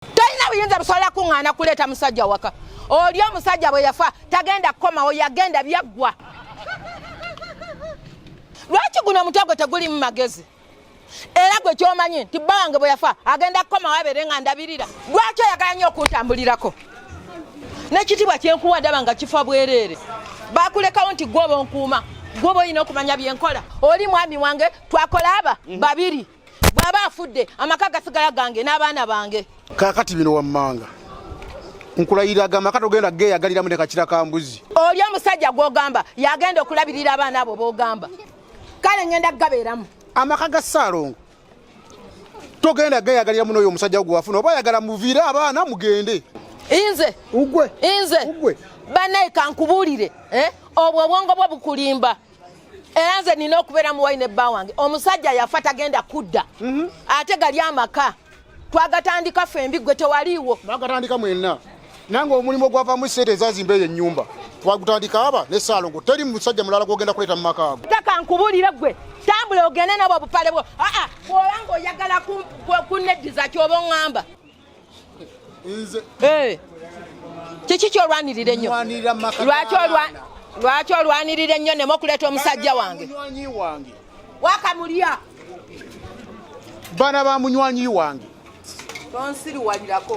tolina buyinza busobola kuŋŋaana kuleeta musajja waka oli omusajja bwe yafa tagenda kukomawo yagenda byaggwa lwaki guno omutwe gwe tegulimu magezi era gwe kyomanyi nti bba wange bwe yafa agenda kukomawo abeere nga ndabirira lwaki oyagala nnyo okuntambulirako n'ekitiibwa kyenkuwa ndaba nga kifa bwereere bakulekawo nti gwoba onkuuma gwoba olina okumanya byenkola oli mwami wange twakola aba mhm. babiri bw'aba afudde amaka gasigala gange n'abaana bange kaakati bino wammanga nkulayira aga maka togenda geeyagaliramu ne kakira ka mbuzi oli omusajja gw'ogamba yagenda okulabirira abaana abo b'ogamba kale ngenda kugabeeramu amaka ga ssaalongo togenda geeyagalira muno oyo omusajja gwewafuna oba ayagala muviire abaana mugende inze ugwe inze ugwe banaye kankubuulire eh? obwo obwongo bwo bukulimba era nze nina okubeera muwayi ne bba wange omusajja yafa tagenda kudda mhm. ate gali amaka twagatandika fe mbi gwe tewaliiwo mwagatandika mwenna nange omulimu ogwavamu sente ezazimba eyo enyumba twagutandika aba ne saalongo teri musajja mulala gwogenda kuleeta mu maka ago taka nkubulire gwe tambula ogende nabwo obupale bwo aa ah, ah, bwolanga oyagala kunneddiza kyoba oŋŋamba Eh. kiki kyolwanirira ennyo lwaki olwanirira ennyo nemu okuleeta omusajja wange wakamulya bana ba munywanyi wange tonsiriwalirako